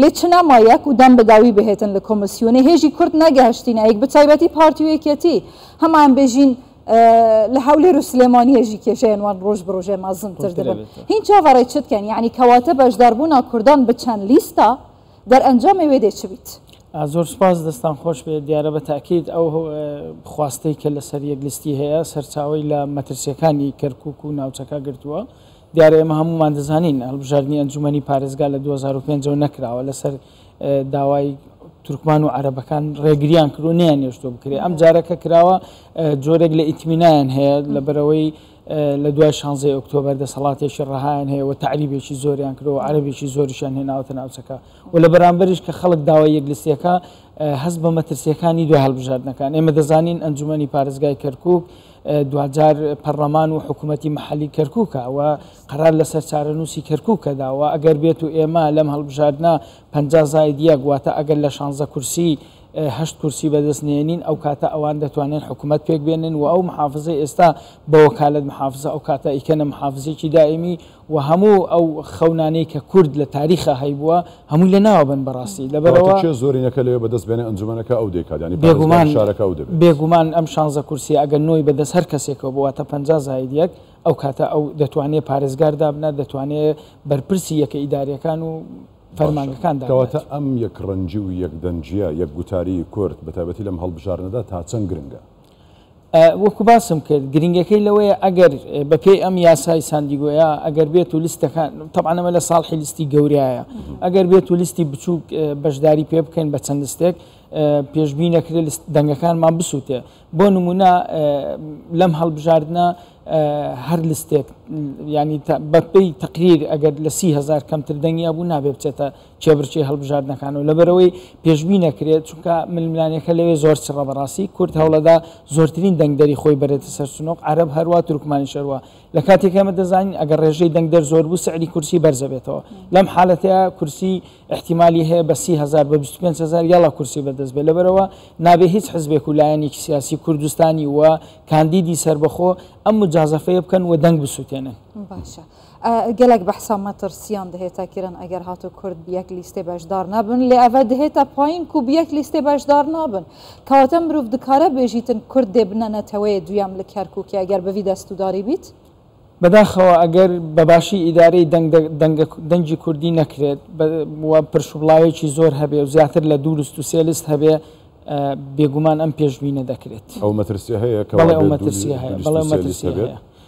لێ چ نەما یەک و دەم بەداوی بهێتن لە کۆمسیونێ هێژی کورد نەگەهشتینە ئەیک بەتایبەتی پارتی و یەکێتی هەمان بێژین لە هەولێر و سلێمانی هێژی کێشەیەن وان ڕۆژ بڕۆژێ مازن تر دەبن هین چاڤەڕێ چت کەن یعنی کەواتە بەشداربوونا کوردان بچەن لیستا دەرئەنجامێ وێ دێ چ بیت؟ زۆر سپاس دەستان خۆش بێت دیارە بە تاکیت ئەو خواستەی کە لەسەر یەکلیستی هەیە سەرچاوی لە مەترسیەکانی کەرکک و ناوچەکە گرتووە دیارە ئێمە هەموومان دەزانین هەڵبژاردنی ئەنجومەنی پارێزگا لە 2005 ەوە نەکراوە لەسەر داوای تورکمان و عربەکان ڕێگریان کرد و نیان نێشتۆ بکرێت ئەم جارەکە کراوە جۆرێک لە ئیتمینایان هەیە لە بەرەوەی لە دوای شانزی ئۆکتۆبەر دەسەڵاتێکی ڕەهایان هەیە و تعریبێکی زۆریان کرەوە عربێکی زۆریشان هێناوتە ناوچەکە و لە بەرامبەریش کە خەڵک داوای یەکلیسیەکە هەست بە مەترسیەکانی دوای هەڵبژاردنەکان ئێمە دەزانین ئەنجومی پارێزگای کەرکک دواجار پەڕلەمان و حکومەتی مەحەلی کەرکوکە و قەرار لەسەر چارەنووسی کەرکوکە داوە ئەگەر بێت و ئێمە لەم هەڵبژاردنە پ زاید یەک واتە ئەگەر لە شانزە کورسی هەشت کورسی بەدەست نێنین ئەو کاتە ئەوان دەتوانن حکومەت پێک بێنن و ئەو محافزە ئێستا بەوەکالەت محافزە ئەو کاتە ئیکەنە محافزێکی دائمی و هەموو ئەو خەونانەی کە کورد لە تاریخا هەیبووە هەمووی لە ناوە بەن بەڕاستی لەبەر ئەوە. کەواتە کێ زۆرینەکە لەوێ بەدەست بێنێ ئەنجومەنەکە ئەو دەیکات یانی پارێزگاری شارەکە ئەو دەبێت. بێگومان ئەم شانزە کورسیە ئەگەر نۆی بە دەست هەر کەسێکەوە بوو واتە پەنجا زایید یەک ئەو کاتە ئەو دەتوانێ پارێزگار دابنات دەتوانێ بەرپرسی یەکە ئیداریەکان و فەرمانگەکان دابنات. کەواتە ئەم یەک ڕەنگی و یەک دەنگیە یەک گوتاری کورد بە تایبەتی لەم هەڵبژاردنەدا تا چەند گرنگە؟ وەکو باسم کرد گرنگەکەی لەوەیە ئەگەر بەپێی ئەم یاسای ساندیگۆیا ئەگەر بێت و لیستەکان تەبانەمە لە ساڵحی لیستی گەوریایە ئەگەر بێت و لیستی بچووک بەشداری پێ بکەین بە چەند لستێک پێشببی نەکرێت دەنگەکانمان بسووتێ بۆ نمونە لەم هەڵبژاردنە هەر لستێک ینی بەپی تقریر ئەگەر لە سیهزار کەمتر دەنگیا بوو نابێ بچێتە کێبڕکێ هەڵبژاردنەکان و لەبەرئەوەی پێشبی نەکرێت چونکە ململانێکە لەوێ زۆر چڕە بەڕاستی کورد هەوڵەدا زۆرترین دەنگدەری خۆی بەرێتە سەر سنوق عەرەب هەروە تورکمانیش هەروە لە کاتێک ئێمە دەزانین ئەگەر ڕێژەی دەنگدەر زۆر بوو سعری کورسی بەرزەبێتەوە لەم حالەتەیە کورسی احتیممالی هەیە بە سی هزار بە 25 هزار یاڵا کورسی بەدەست بێ لەبەرەوە نابێ هیچ حزبێک و لایەنێکی سیاسی کوردستانی و کاندیدی سربەخۆ ئەم مجازەفەیە بکەن و دەنگ بسووتێنن باشە. گەلەک بەحسا مەترسیان دهێتە کرن ئەگەر هاتو کورد بیەک لیستێ بەشدار نەبن، لێ ئەڤە دهێتە پایین کو بیەک لیستێ بەشدار نابن. کەواتە مروڤ دکارە بێژیتن کورد دێ بنە نەتەوەێ دویەم لە کەرکوکێ ئەگەر بڤی دەستوداری بیت؟ بەداخەوە ئەگەر بە باشی ئیدارەی دەنگ دەنگی کوردی نەکرێت و پرشوبڵاوێکی زۆر هەبێ و زیاتر لە دوو لست و سێ لست هەبێ بێگومان ئەم پێشبینە دەکرێت. ئەو مەترسیە هەیە کە بەڵێ ئەو مەترسیە هەیە بەڵێ ئەو مەترسیە هەیە.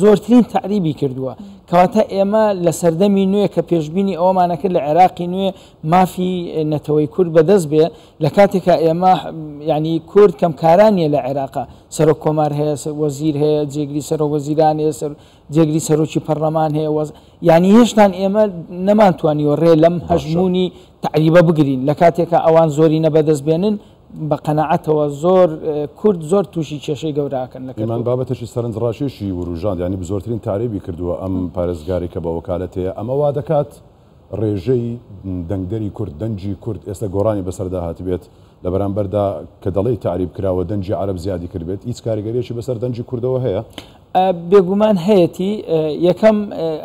زۆرترین تەعریبی کردووە، کەواتە ئێمە لە سەردەمی نوێ کە پێشبینی ئەوەمانەکرد لە عێراقی نوێ مافی نەتەوەی کورد بەدەست بێ لە کاتێکا ئێمە یعنی کورد کەم کارانیە لە عێراقا سەرۆک کۆمار هەیە وەزیر هەیە جێگری سەرۆک وەزیران هەیە سەر جێگری سەرۆکی پەرلەمان هەیە وەز یعنی هێشتان ئێمە نەمانتوانیوە ڕێ لەم هەژمونی تعریبە بگرین لە کاتێکا ئەوان زۆری نەبەدەست بێنن بە قەناعەتەوە زۆر کورد زۆر تووشی کێشەی گەورە ئەکەن لە کەرکوک. ئیمان بابەتێکی سەرنجڕاکێشی وروژاند، یانی بزۆرترین تارێبی کردووە ئەم پارێزگارەی کە بە وەکالەتێیە، ئەمە وا دەکات ڕێژەی دەنگدەری کورد، دەنگی کورد ئێستا گۆڕانی بەسەردا هاتبێت لە بەرامبەردا کە دەڵێی تەعریب کراوە دەنگی عەرەب زیادی کردبێت، هیچ کاریگەریەکی بەسەر دەنگی کوردەوە هەیە؟ بێگومان هەیەتی، یەکەم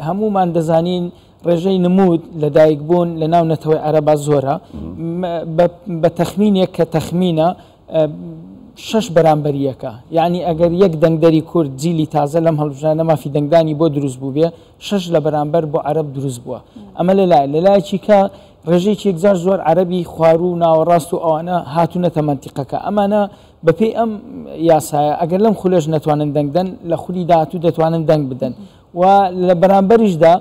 هەموومان دەزانین ڕێژەی نموود لە دایک بوون لە ناو نەتەوەی عەرەبا زۆرە بە تەخمینێک کە تەخمینە شش بەرامبەر یەکە یعنی ئەگەر یەک دەنگدەری کورد جیلی تازە لەم هەڵبژانە مافی دەنگدانی بۆ دروست بوو بێ شش لە بەرامبەر بۆ عرب دروست بووە ئەمە لە لای لەلایەکی کە ڕێژێکی یەکجار زۆر عربی خوارو و ناوەڕاست و ئەوانە هاتوونەتە منتیقەکە ئەمانە بەپی ئەم یاسایە ئەگەر لەم خولێش نەتوانن دەنگدەن لە خولی داهاتوو دەتوانن دەنگ بدەن و لە بەرامبەریشدا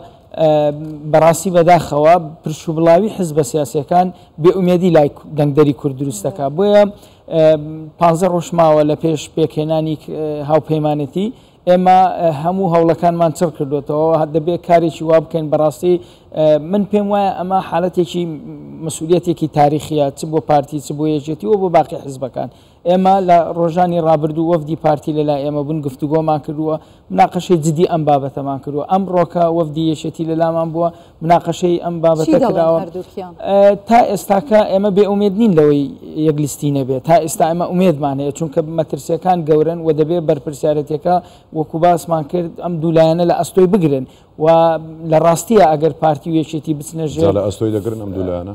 بەڕاستی بەداخەوە پرشوبڵاوی حزبە سیاسەکان بێئومێدی لای دەنگدەری کورد دروست دەکات بۆیە پانزە ڕۆژماوە لە پێش پێکهێنانی هاوپەیمانەتی ئێمە هەموو هەوڵەکانمان چڕ کردوێتەوە دەبێت کارێکی وا بکەین بەڕاستی من پێم وایە ئەمە حالەتێکی مسوولەتێکی تاریخە چ بۆ پارتی چ بۆ یەکێتی و بۆ باقی حزبەکان ئێمە لە ڕۆژانی ڕابردوو وەفدی پارتی لەلای ئێمە بوون گفتوگۆمان کردووە مناقەشەی جدی ئەم بابەتەمان کردووە ئەم ڕۆکە وەفدی یەشێتی لەلامان بووە مناقەشەی ئەم بابەتە کراوە تا ئێستاکە ئێمە بێ ئومێد نین لەوەی یەک لیستی نەبێت تا ئێستا ئەمە ئومێدمان هەیە چونکە مەترسیەکان گەورن و دەبێت بەرپرسیارەتەکە وەکو باسمان کرد ئەم دوولایەنە لە ئەستۆی بگرن و لە ڕاستیە ئەگەر پارتی و یەشێتی بچنە ژێر لە ئەستۆی دەگرن ئەم دوولایەنە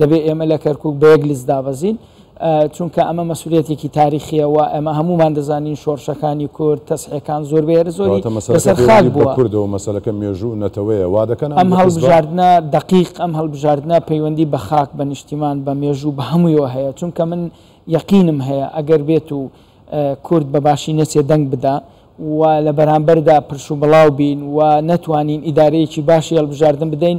دەبێت ئێمە لە کەرکوک بە یەک لست دابەزین، چونکە ئەمە مەسولیەتێکی تاریخیە و ئێمە هەموومان دەزانین شۆڕشەکانی کورد، تەسحێکان زۆر بێ زۆری لەسەر خاک بووە. کەواتە مەسەلەکە پەیوەندی بە کوردە و مەسەلەکە مێژوو و نەتەوەیە وا دەکەن ئەم هەڵبژاردنە دەقیق ئەم هەڵبژاردنە پەیوەندی بە خاک، بە نیشتیمان، بە مێژوو، بە هەموویەوە هەیە، چونکە من یەقینم هەیە ئەگەر بێت و کورد بە باشی نەچێ دەنگ بدا و لە بەرامبەردا پرشوبڵاو بین و نەتوانین ئیدارەیەکی باشی هەڵبژاردن بدەین،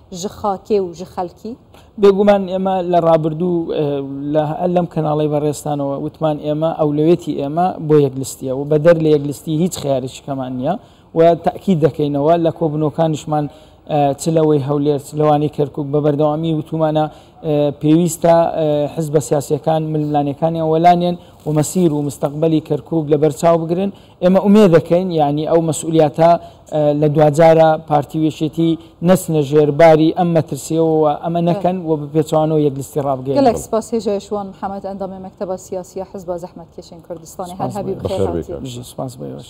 ژ خاکێ و ژ خەلکی. بێگومان ئێمە لە ڕابردوو لە لەم کەناڵەی بەڕێزتانەوە وتمان ئێمە ئەولەوێتی ئێمە بۆ یەکلستیە و بەدەر لە یەکلستی هیچ خیارێکیکەمان نییە و تاکید دەکەینەوە لە کۆبنەوەکانیشمان چ لەوەی هەولێر چ لەوانی کەرکک بە بەردەوامی وتومانە پێویستە حزبە سیاسیەکان ململانێکانیان وەلانێن و مەسیر و مستەقبەلی کەرکک لەبەرچاو بگرن ئێمە ئومێدەکەین یانی ئەو مەسئولیاتە لە دواجارە پارتی وێشێتی نەچنە ژێر باری ئەم مەترسیەوەوە ئەمە نەکەن و بپێچوانەوە یەک لیستی ڕابگەن گەلێک سپاس هێژایشوان محەمەد ئەندامی مەکتەبە سیاسیە حزبە زەحمەتکێشێن کوردستانی هەر هەبی بخێر هاتی. سپاس بۆ ئێوەش.